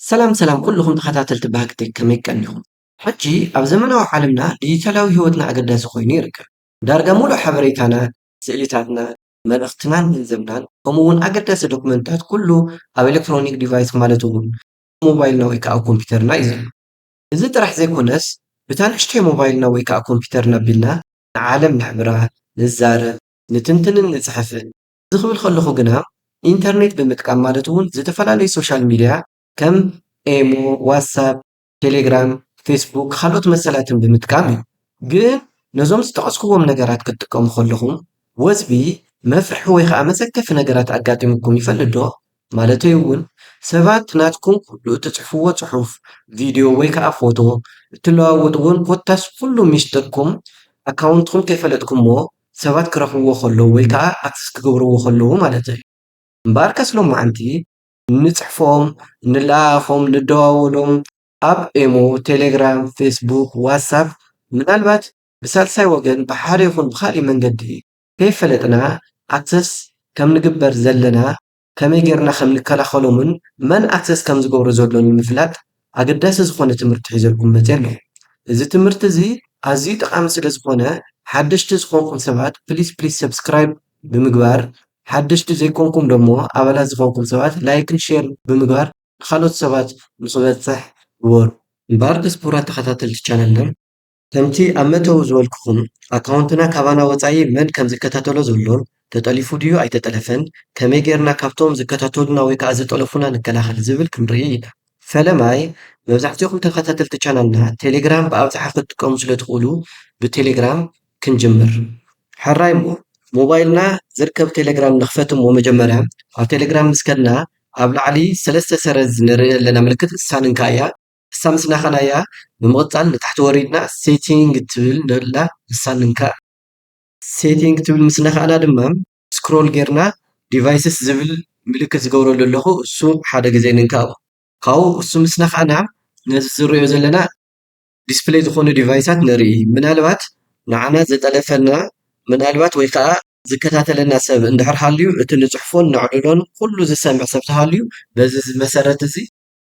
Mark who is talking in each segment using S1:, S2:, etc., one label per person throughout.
S1: ሰላም ሰላም ኩሉኹም ተኸታተልቲ ባህጊ ቴክ ከመይ ቀኒኹም። ሕጂ ኣብ ዘመናዊ ዓለምና ዲጂታላዊ ህይወትና ኣገዳሲ ኮይኑ ይርከብ። ዳርጋ ሙሉእ ሓበሬታና፣ ስእሊታትና፣ መልእኽትናን ገንዘብናን ከምኡ ውን ኣገዳሲ ዶክመንትታት ኩሉ ኣብ ኤለክትሮኒክ ዲቫይስ ማለት ውን ኣብ ሞባይልና ወይ ከኣ ኣብ ኮምፒተርና እዩ ዘሎ። እዚ ጥራሕ ዘይኮነስ ብታ ንእሽተይ ሞባይልና ወይ ከኣ ኮምፒተርና ኣቢልና ንዓለም ነሕብራ፣ ንዛረብ፣ ንትንትንን ንጽሕፍን። እዚ ክብል ከለኹ ግና ኢንተርኔት ብምጥቃም ማለት እውን ዝተፈላለዩ ሶሻል ሚድያ ከም ኤሞ፣ ዋትሳፕ፣ ቴሌግራም፣ ፌስቡክ ካልኦት መሰላትን ብምጥቃም እዩ። ግን ነዞም ዝጠቐስኩዎም ነገራት ክትጥቀሙ ከለኹም ወዝቢ፣ መፍርሒ ወይ ከዓ መሰከፊ ነገራት ኣጋጢሙኩም ይፈልጥ ዶ? ማለተይ እውን ሰባት ናትኩም ኩሉ እትጽሕፍዎ ጽሑፍ፣ ቪድዮ ወይ ከኣ ፎቶ፣ እትለዋወጥዎን ኮታስ ኩሉ ሚስጥርኩም፣ ኣካውንትኩም ከይፈለጥኩሞ ሰባት ክረኽብዎ ከለዉ ወይ ከኣ ኣክሰስ ክገብርዎ ከለዉ ማለተይ። እምበኣርከስ ሎማዓንቲ እንጽሕፎም፣ እንለኣኣኾም፣ እንደዋወሎም ኣብ ኤሞ፣ ቴሌግራም፣ ፌስቡክ፣ ዋትሳፕ ምናልባት ብሳልሳይ ወገን ብሓደ ይኹን ብኻሊእ መንገዲ ከይፈለጥና ኣክሰስ ከም ንግበር ዘለና ከመይ ገርና ከም ንከላኸሎምን መን ኣክሰስ ከም ዝገብሮ ዘሎ ንምፍላጥ ኣገዳሲ ዝኾነ ትምህርቲ ሒዘልኩም መጼ ኣለኹ እዚ ትምህርቲ እዚ ኣዝዩ ጠቃሚ ስለ ዝኾነ ሓደሽቲ ዝኾንኩም ሰባት ፕሊስ ፕሊስ ሰብስክራይብ ብምግባር ሓደሽቲ ዘይኮንኩም ደሞ ኣባላት ዝኾንኩም ሰባት ላይክን ሼር ብምግባር ንኻልኦት ሰባት ንኽበጽሕ ግበሩ። ንባር ደስፖራ ተኸታተልቲ ቻነልና። ከምቲ ኣብ መእተዊ ዝበልኩኹም፣ ኣካውንትና ካባና ወጻኢ መን ከም ዝከታተሎ ዘሎን፣ ተጠሊፉ ድዩ ኣይተጠለፈን፣ ከመይ ጌርና ካብቶም ዝከታተሉና ወይ ከኣ ዝጠለፉና ንከላኸል ዝብል ክንርኢ ኢና። ፈለማይ፣ መብዛሕትኦም ተኸታተልቲ ቻናልና ቴሌግራም ብኣብዝሓ ክትጥቀሙ ስለ ትኽእሉ፣ ብቴሌግራም ክንጅምር። ሕራይ እሞ ሞባይልና ዝርከብ ቴሌግራም ንኽፈት እሞ መጀመርያ ኣብ ቴሌግራም ምስ ከድና ኣብ ላዕሊ ሰለስተ ሰረዝ ንርኢ ኣለና ምልክት ንሳ ንንካእያ። ንሳ ምስ ነካናያ ብምቅጻል ንታሕቲ ወሪድና ሴቲንግ ትብል ዘላ ንሳ ንንካእ። ሴቲንግ ትብል ምስ ነካእና ድማ ስክሮል ጌርና ዲቫይስስ ዝብል ምልክት ዝገብረሉ ኣለኩ እሱ ሓደ ግዜ ንንካኦ። ካብኡ እሱ ምስ ነካእና ነዚ ዝርእዮ ዘለና ዲስፕለይ ዝኮኑ ዲቫይሳት ንርኢ ምናልባት ንዓና ዝጠለፈና ምናልባት ወይ ከኣ ዝከታተለና ሰብ እንድሕር ሃልዩ እቲ ንጽሕፎን ነዕልሎን ኩሉ ዝሰምዕ ሰብ ተሃልዩ በዚ መሰረት እዚ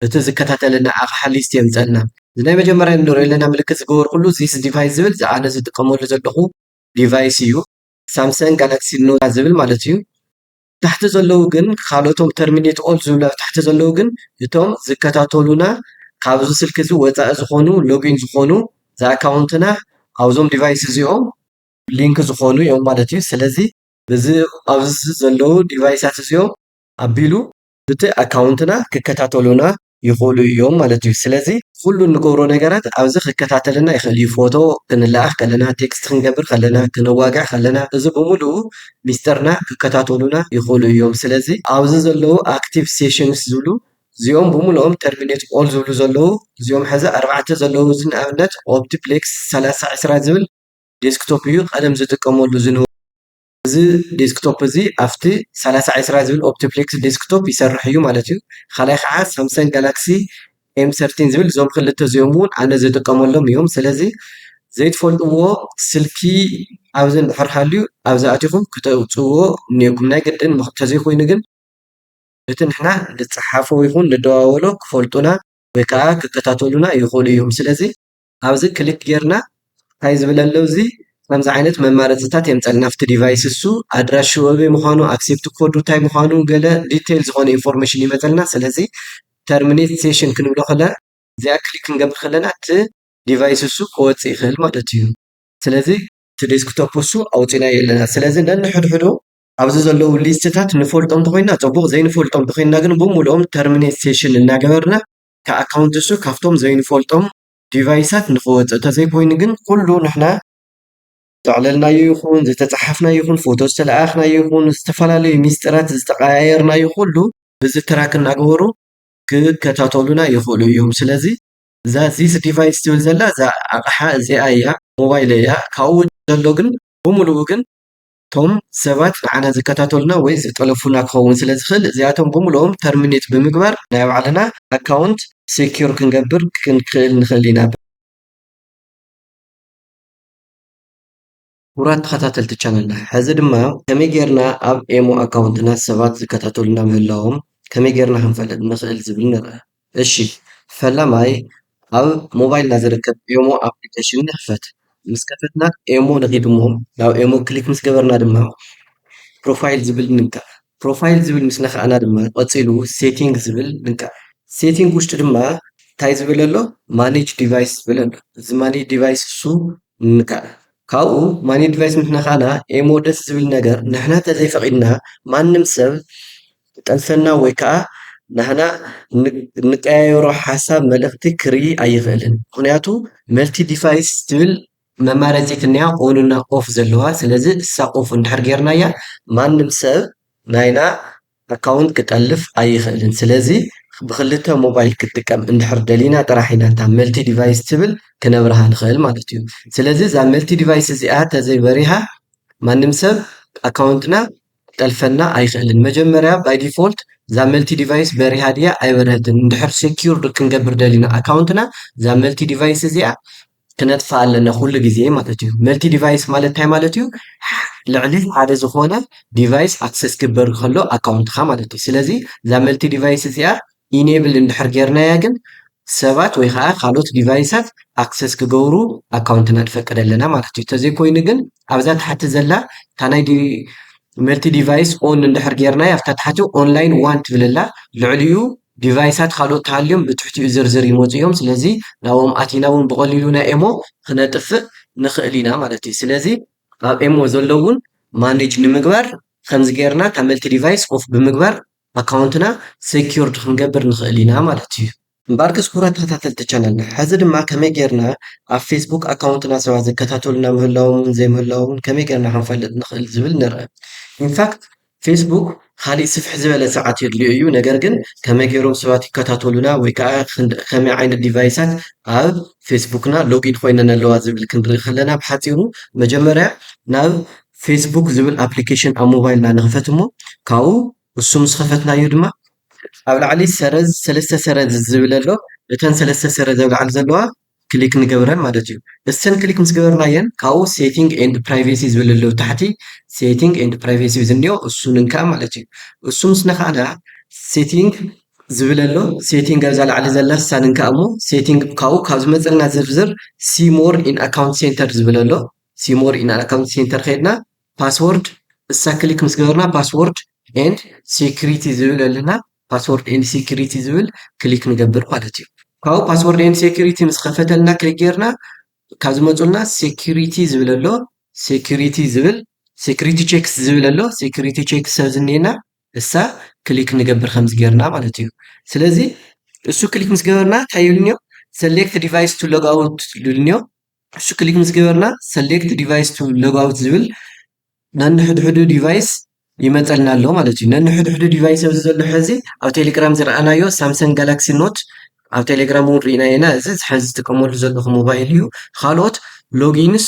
S1: እቲ ዝከታተለና ኣቕሓ ሊስት የምጸልና። እዚ ናይ መጀመርያ ንርእዮ ኣለና ምልክት ዝገበርኩሉ ዚስ ዲቫይስ ዝብል እዚ ኣነ ዝጥቀመሉ ዘለኹ ዲቫይስ እዩ። ሳምሰንግ ጋላክሲ ኖት ዝብል ማለት እዩ። ታሕቲ ዘለዉ ግን ካልኦቶም ተርሚኔት ኦል ዝብሉ ኣብ ታሕቲ ዘለዉ ግን እቶም ዝከታተሉና ካብዚ ስልኪ እዚ ወጻኢ ዝኾኑ ሎጊን ዝኾኑ ዝኣካውንትና ኣብዞም ዲቫይስ እዚኦም ሊንክ ዝኾኑ እዮም ማለት እዩ። ስለዚ እዚ ኣብዚ ዘለዉ ዲቫይሳት እዚኦም ኣቢሉ ብቲ ኣካውንትና ክከታተሉና ይኽእሉ እዮም ማለት እዩ። ስለዚ ኩሉ እንገብሮ ነገራት ኣብዚ ክከታተለና ይኽእል እዩ። ፎቶ ክንለኣኽ ከለና፣ ቴክስት ክንገብር ከለና፣ ክነዋግዕ ከለና እዚ ብምሉኡ ሚስጥርና ክከታተሉና ይኽእሉ እዮም። ስለዚ ኣብዚ ዘለዉ ኣክቲቭ ሴሽንስ ዝብሉ እዚኦም ብምሉኦም ተርሚኔት ኦል ዝብሉ ዘለዉ እዚኦም ሕዚ ኣርባዕተ ዘለዉ እዚ ንኣብነት ኦፕቲፕሌክስ ሰላሳ ዕስራ ዝብል ዴስክቶፕ እዩ ቀደም ዝጥቀመሉ ዝነበ እዚ ዴስክቶፕ እዚ ኣብቲ ሰላሳ ዕስራ ዝብል ኦፕቲፕሌክስ ዴስክቶፕ ይሰርሕ እዩ ማለት እዩ። ካልኣይ ከዓ ሳምሰንግ ጋላክሲ ኤም ሰርቲን ዝብል እዞም ክልተ እዚኦም እውን ኣነ ዝጥቀመሎም እዮም። ስለዚ ዘይትፈልጥዎ ስልኪ ኣብዚ እንድሕር ሃልዩ ኣብዚ ኣቲኹም ክተውፅእዎ እኒአኩም። ናይ ግድን እንተዘይኮይኑ ግን እቲ ንሕና ንፀሓፎ ይኹን ንደዋወሎ ክፈልጡና ወይ ከዓ ክከታተሉና ይኽእሉ እዮም። ስለዚ ኣብዚ ክሊክ ጌርና ታይ ዝብል ኣሎ እዚ ከምዚ ዓይነት መማረፂታት የምፀልና ኣብቲ ዲቫይስ እሱ ኣድራሽኡ ኣበይ ምዃኑ ኣክሴፕት ኮዱ ታይ ምዃኑ ገለ ዲቴል ዝኾነ ኢንፎርሜሽን ይመፀልና ስለዚ ተርሚኔት ሴሽን ክንብሎ ከለና እዚኣ ክሊክ ክንገብር ከለና እቲ ዲቫይስ እሱ ክወፅእ ይኽእል ማለት እዩ ስለዚ እቲ ዴስክቶፕ እሱ ኣውፂእናዮ ኣለና ስለዚ ነንሕድሕዱ ኣብዚ ዘለዉ ሊስትታት ንፈልጦም እንተኾይንና ፅቡቕ ዘይንፈልጦም እንተኾይንና ግን ብሙሉኦም ተርሚኔት ሴሽን እናገበርና እቲ ኣካውንት እሱ ካብቶም ዘይንፈልጦም ዲቫይሳት ንክወፅእ ተዘይኮይኑ ግን ኩሉ ንሕና ዘዕለልናዮ ይኹን ዝተፀሓፍናዮ ይኹን ፎቶ ዝተለኣኣኽናዮ ይኹን ዝተፈላለዩ ሚስጥራት ዝተቀያየርናዮ ኩሉ ብዚ ትራክ እናገበሩ ክከታተሉና ይኽእሉ እዮም። ስለዚ እዛ ዚስ ዲቫይስ ትብል ዘላ እዛ ኣቕሓ እዚኣ እያ ሞባይል እያ ካብኡ ዘሎ ግን ብምሉኡ ግን እቶም ሰባት ንዓና ዝከታተሉና ወይ ዝጠለፉና ክኸውን ስለ ዝኽእል እዚኣቶም ብምልኦም ተርሚኔት ብምግባር ናይ ባዕልና ኣካውንት ሴኪር ክንገብር ክንክእል ንኽእል ኢና። ክቡራት ተኸታተልቲ ቻነልና ሕዚ ድማ ከመይ ጌርና ኣብ ኤሞ ኣካውንትና ሰባት ዝከታተሉና ምህላዎም ከመይ ጌርና ክንፈልጥ ንኽእል ዝብል ንርኣ። እሺ ፈላማይ ኣብ ሞባይልና ዝርከብ ኤሞ ኣፕሊከሽን ንኽፈት ምስ ከፈትና ኤሞ ንኺድ እሞ ናብ ኤሞ ክሊክ ምስ ገበርና ድማ ፕሮፋይል ዝብል ንንካእ ፕሮፋይል ዝብል ምስ ነኻእና ድማ ቀጺሉ ሴቲንግ ዝብል ንንካእ ሴቲንግ ውሽጢ ድማ እንታይ ዝብል ኣሎ ማኔጅ ዲቫይስ ዝብል ኣሎ እዚ ማኔጅ ዲቫይስ እሱ ንንካእ ካብኡ ማኔጅ ዲቫይስ ምስ ነኻእና ኤሞ ደስ ዝብል ነገር ንሕና እንተዘይፈቒድና ማንም ሰብ ዝጠልፈና ወይ ከኣ ናህና እንቀያየሮ ሓሳብ መልእኽቲ ክርኢ ኣይኽእልን ምኽንያቱ መልቲ ዲቫይስ ትብል መማረጺት እንያ ኦን እና ኦፍ ዘለዋ ስለዚ እሳ ኦፍ እንድሕር ጌርናያ ማንም ሰብ ናይና ኣካውንት ክጠልፍ ኣይኽእልን ስለዚ ብኽልተ ሞባይል ክትጥቀም እንድሕር ደሊና ጥራሕ ኢና እታ መልቲ ዲቫይስ ትብል ክነብርሃ ንኽእል ማለት እዩ ስለዚ እዛ መልቲ ዲቫይስ እዚኣ ተዘይ በሪሃ ማንም ሰብ ኣካውንትና ክጠልፈና ኣይክእልን መጀመርያ ባይ ዲፎልት እዛ መልቲ ዲቫይስ በሪሃ ድያ ኣይበረሀትን እንድሕር ሴኪርድ ክንገብር ደሊና ኣካውንትና እዛ መልቲ ዲቫይስ እዚኣ ክነጥፋ ኣለና ኩሉ ግዜ ማለት እዩ መልቲ ዲቫይስ ማለት እንታይ ማለት እዩ ልዕሊ ሓደ ዝኾነ ዲቫይስ ኣክሰስ ክግበር ከሎ ኣካውንትካ ማለት እዩ ስለዚ እዛ መልቲ ዲቫይስ እዚኣ ኢኔብል እንድሕር ጌርናያ ግን ሰባት ወይ ኻዓ ካልኦት ዲቫይሳት ኣክሰስ ክገብሩ ኣካውንትና ንፈቅድ ኣለና ማለት እዩ ተዘይ ኮይኑ ግን ኣብዛ ታሕቲ ዘላ እታ ናይ መልቲ ዲቫይስ ኦን እንድሕር ጌርናያ ኣብታ ታሕቲ ኦንላይን ዋን ትብል ኣላ ልዕሊኡ ዲቫይሳት ካልኦት ተሃልዮም ብትሕቲኡ ዝርዝር ይመፁ እዮም ስለዚ ናብኦም ኣቲና እውን ብቐሊሉ ናይ ኤሞ ክነጥፍእ ንኽእል ኢና ማለት እዩ ስለዚ ኣብ ኤሞ ዘለውን ማኔጅ ንምግባር ከምዚ ጌርና እታ መልቲ ዲቫይስ ኦፍ ብምግባር ኣካውንትና ሰኪውርድ ክንገብር ንኽእል ኢና ማለት እዩ። እምበኣርከስ ክቡራት ተኸታተልቲ ቻነልና ሕዚ ድማ ከመይ ጌርና ኣብ ፌስቡክ ኣካውንትና ሰባት ዝከታተሉና ምህላዎምን ዘይምህላዎምን ከመይ ጌርና ክንፈልጥ ንኽእል ዝብል ንርኣ። ኢንፋክት ፌስቡክ ኻሊእ ስፍሕ ዝበለ ሰዓት የድልዮ እዩ ነገር ግን ከመይ ጌሮም ሰባት ይከታተሉና ወይ ከኣ ከመይ ዓይነት ዲቫይሳት ኣብ ፌስቡክና ሎጊን ኾይነን ኣለዋ ዝብል ክንርኢ ከለና ብሓጺሩ መጀመርያ ናብ ፌስቡክ ዝብል ኣፕሊኬሽን ኣብ ሞባይልና ንኽፈት እሞ ካብኡ እሱ ምስ ኸፈትናዮ ድማ ኣብ ላዕሊ ሰረዝ ሰለስተ ሰረዝ ዝብል ኣሎ እተን ሰለስተ ሰረዝ ኣብ ላዕሊ ዘለዋ ክሊክ ንገብረን ማለት እዩ እሰን ክሊክ ምስ ገበርናየን ካብኡ ሴቲንግ ኤንድ ፕራይቬሲ ዝብል ኣሎ ታሕቲ ሴቲንግ ኤንድ ፕራይቬሲ ዝኒኦ እሱ ንንካእ ማለት እዩ እሱ ምስ ነካእና ሴቲንግ ዝብል ኣሎ ሴቲንግ ኣብዛ ላዕሊ ዘላ እሳ ንንካእ እሞ ሴቲንግ ካብኡ ካብ ዝመፀና ዝርዝር ሲ ሞር ኢን ኣካውንት ሴንተር ዝብል ኣሎ ሲ ሞር ኢና ኣካውንት ሴንተር ከይድና ፓስወርድ እሳ ክሊክ ምስ ገበርና ፓስወርድ ኤንድ ሴኩሪቲ ዝብል ኣለና ፓስወርድ ኤንድ ሴኩሪቲ ዝብል ክሊክ ንገብር ማለት እዩ ካብኡ ፓስወርድ ኤንድ ሴኩሪቲ ምስ ከፈተልና ክሊክ ጌርና ካብ ዝመፁልና ሴኩሪቲ ዝብል ኣሎ ሴኩሪቲ ዝብል ሴኩሪቲ ቼክስ ዝብል ኣሎ ሴኩሪቲ ቼክስ ሰብ ዝኒኤና እሳ ክሊክ ንገብር ከምዚ ጌርና ማለት እዩ ስለዚ እሱ ክሊክ ምስ ገበርና እንታይ ይብልኒዮ ሰሌክት ዲቫይስ ቱ ሎግ ኣውት ልብልኒዮ እሱ ክሊክ ምስ ገበርና ሰሌክት ዲቫይስ ቱ ሎግ ኣውት ዝብል ነንሕድሕዱ ዲቫይስ ይመፀልና ኣሎ ማለት እዩ ነንሕድሕዱ ዲቫይስ ኣብዚ ዘሎ ሕዚ ኣብ ቴሌግራም ዝረኣናዮ ሳምሰንግ ጋላክሲ ኖት ኣብ ቴሌግራም እውን ርኢና ኢና እዚ ሕዚ ዝጥቀመሉ ዘለኹ ሞባይል እዩ ካልኦት ሎጊንስ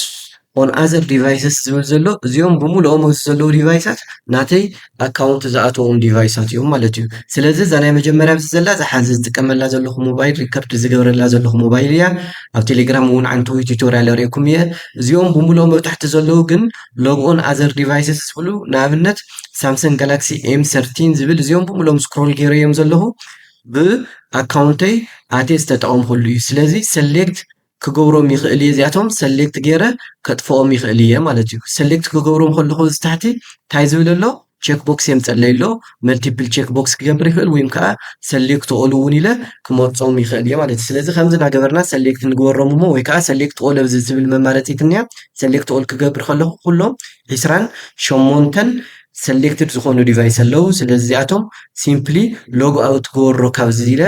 S1: ኦን ኣዘር ዲቫይስስ ዝብል ዘሎ እዚኦም ብምሉኦም ኣብዚ ዘለዉ ዲቫይሳት ናተይ ኣካውንት ዝኣተዎም ዲቫይሳት እዮም ማለት እዩ ስለዚ እዛ ናይ መጀመርያ ምስ ዘላ እዛ ሓዚ ዝጥቀመላ ዘለኹ ሞባይል ሪከርድ ዝገብረላ ዘለኹ ሞባይል እያ ኣብ ቴሌግራም እውን ዓንተዊ ቱቶርያል ርእኩም እየ እዚኦም ብምልኦ መብታሕቲ ዘለዉ ግን ሎግኦን ኣዘር ዲቫይስስ ዝብሉ ንኣብነት ሳምሰንግ ጋላክሲ ኤም ሰርቲን ዝብል እዚኦም ብምልኦም ስክሮል ገይረ እዮም ዘለኹ ብኣካውንተይ ኣቴ ዝተጠቐምኩሉ እዩ ስለዚ ሰሌክት ክገብሮም ይክእል እየ እዚኣቶም ሰሌክት ገይረ ከጥፍኦም ይክእል እየ ማለት እዩ ሰሌክት ክገብሮም ከለኩ እዚ ታሕቲ እንታይ ዝብል ኣሎ ቼክ ቦክስ የምፀለይ ኣሎ መልቲፕል ቼክ ቦክስ ክገብር ይክእል ወይም ከዓ ሰሌክት ኦል እውን ኢለ ክመርፆም ይክእል እየ ማለት እዩ ስለዚ ከምዚ እናገበርና ሰሌክት ንግበሮም እሞ ወይ ከዓ ሰሌክት ኦል ኣብዚ ዝብል መማረፂት እኒኣ ሰሌክት ኦል ክገብር ከለኩ ኩሎም ዒስራን ሸሞንተን ሰሌክትድ ዝኾኑ ዲቫይስ ኣለው ስለዚ እዚኣቶም ሲምፕሊ ሎግ ኣውት ክገብሮ ካብዚ ኢለ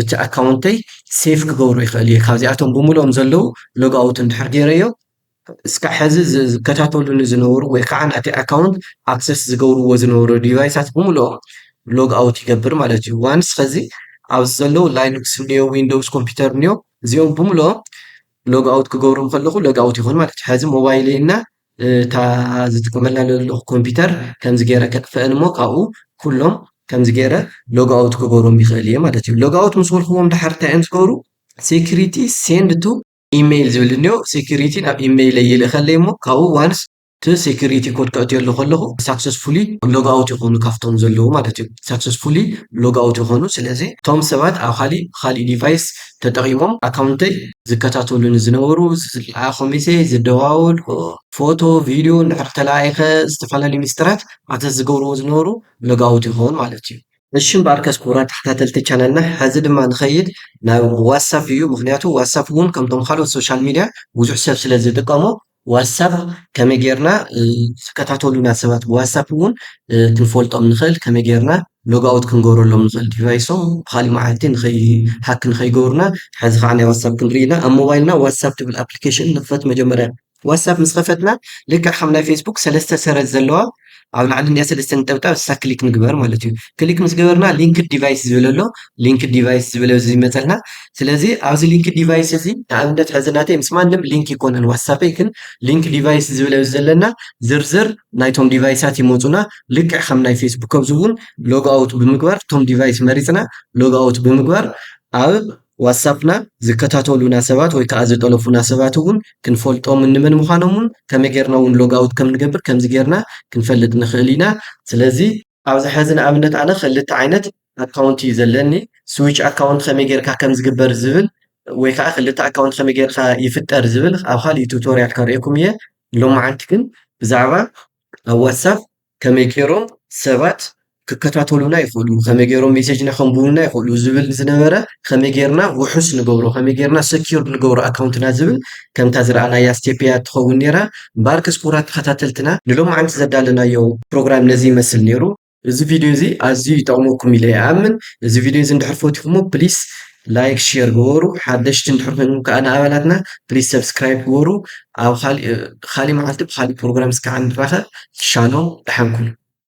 S1: እቲ ኣካውንተይ ሴፍ ክገብሮ ይኽእል እየ ካብዚኣቶም ብምልኦም ዘለው ሎግ ኣውት እንድሕር ገይረዮ እስካዕ ሕዚ ዝከታተሉኒ ዝነበሩ ወይ ከዓ ናቲ ኣካውንት ኣክሰስ ዝገብርዎ ዝነበሩ ዲቫይሳት ብምልኦም ሎግ ኣውት ይገብር ማለት እዩ። ዋንስ ከዚ ኣብዚ ዘለዉ ላይኑክስ እኒኦ ዊንዶውስ ኮምፒውተር እኒኦ እዚኦም ብምልኦም ሎግ ኣውት ክገብሮም ከለኹ ሎግ ኣውት ይኹን ማለት እዩ። ሕዚ ሞባይለይ እና እታ ዝጥቀመላ ዘለኹ ኮምፒተር ከምዚ ገይረ ከጥፍእን እሞ ካብኡ ኩሎም ከምዚ ገይረ ሎግ ኣውት ክገብሮም ይኽእል እየ ማለት እዩ ሎግ ኣውት ምስ በልክዎም ድሓር እንታይ እዮም ዝገብሩ ሴኩሪቲ ሴንድ ቱ ኢሜይል ዝብል እኒኦ ሴኩሪቲ ናብ ኢሜይለይ ይልእኸለይ እሞ ካብኡ ዋንስ እቲ ሴኩሪቲ ኮድ ከእትየሉ ከለኹ ሳክሰስፉሊ ሎግ ኣውት ይኾኑ ካብቶም ዘለዉ ማለት እዩ ሳክሰስፉሊ ሎግ ኣውት ይኾኑ ስለዚ እቶም ሰባት ኣብ ካሊእ ብካሊእ ዲቫይስ ተጠቒሞም ኣካውንተይ ዝከታተሉኒ ዝነበሩ ዝለኣ ኮሜንተይ ዝደዋወልዎ ፎቶ ቪድዮ እንድሕር ተለኣኢኸ ዝተፈላለዩ ሚስጥራት ኣክሰስ ዝገብርዎ ዝነበሩ ሎጋውት ይኸውን ማለት እዩ። እሺ እምበኣርከስ ክቡራት ተኸታተልቲ ቻናልና ሕዚ ድማ ንኸይድ ናብ ዋትሳፕ እዩ ምኽንያቱ ዋትሳፕ እውን ከምቶም ካልኦት ሶሻል ሚድያ ብዙሕ ሰብ ስለዝጥቀሞ ዋትሳፕ ከመይ ጌርና ዝከታተሉና ሰባት ብዋትሳፕ እውን ክንፈልጦም ንኽእል፣ ከመይ ጌርና ሎግኣውት ክንገብረሎም ንኽእል ዲቫይሶም ብኻሊእ መዓልቲ ንኸይሃክ ንኸይገብሩና፣ ሐዚ ከዓ ናይ ዋትሳፕ ክንርኢ ኢና ኣብ ሞባይልና ዋትሳፕ ትብል ኣፕሊኬሽን ንኽፈት መጀመርያ ዋትሳፕ ምስ ኸፈትና ልክዕ ከም ናይ ፌስቡክ ሰለስተ ሰረዝ ዘለዋ ኣብ ላዕሊ እንዲያ ሰለስተ ነጠብጣብ እሳ ክሊክ ንግበር ማለት እዩ ክሊክ ምስ ገበርና ሊንክድ ዲቫይስ ዝብል ኣሎ ሊንክድ ዲቫይስ ዝብል እዚ ይመፀልና ስለዚ ኣብዚ ሊንክድ ዲቫይስ እዚ ንኣብነት ሕዚ ናተይ ምስ ማንም ሊንክ ይኮነን ዋትሳፐይ ግን ሊንክ ዲቫይስ ዝብል ኣብዚ ዘለና ዝርዝር ናይቶም ዲቫይሳት ይመፁና ልክዕ ከም ናይ ፌስቡክ ኣብዚ እውን ሎግ ኣውት ብምግባር እቶም ዲቫይስ መሪፅና ሎግ ኣውት ብምግባር ኣብ ዋትሳፕና ዝከታተሉና ሰባት ወይ ከኣ ዝጠለፉና ሰባት እውን ክንፈልጦምን ንመን ምዃኖምን ከመይ ጌርና እውን ሎጋውት ከም ንገብር ከምዚ ጌርና ክንፈልጥ ንኽእል ኢና። ስለዚ። ኣብዚ ሐዚ ንኣብነት ኣነ ኸልተ ዓይነት ኣካውንት እዩ ዘለኒ ስዊች ኣካውንት ኸመይ ጌርካ ከም ዝግበር ዝብል ወይ ከኣ ኽልተ ኣካውንት ኸመይ ጌርካ ይፍጠር ዝብል ኣብ ኻሊእ ቱቶርያል ከርእየኩም እየ። ሎምዓንቲ ግን ብዛዕባ ኣብ ዋትሳፕ ከመይ ጌሮም ሰባት ክከታተሉና ይክእሉ ከመይ ጌሮም ሜሴጅና ከንብቡልና ይክእሉ ዝብል ዝነበረ ከመይ ጌርና ውሑስ ንገብሮ ከመይ ጌርና ሰኪዩርድ ንገብሮ ኣካውንትና ዝብል ከምታ ዝረኣናያ ስቴፕ እያ ትኸውን ኔራ እምበኣር ክስኩራት ተኸታተልትና ንሎማዓንቲ ዘዳለናዮ ፕሮግራም ነዚ ይመስል ኔሩ እዚ ቪድዮ እዚ ኣዝዩ ይጠቕመኩም ኢለ ይኣምን እዚ ቪድዮ እዚ እንድሕር ፈቲኹሞ ፕሊስ ላይክ ሼር ግበሩ ሓደሽቲ እንድሕር ኮይንኩም ከዓ ንኣባላትና ፕሊዝ ሰብስክራይብ ግበሩ ኣብ ካሊእ መዓልቲ ብካሊእ ፕሮግራም እስካዕ ንራኸብ ሻሎም ደሓን ኩኑ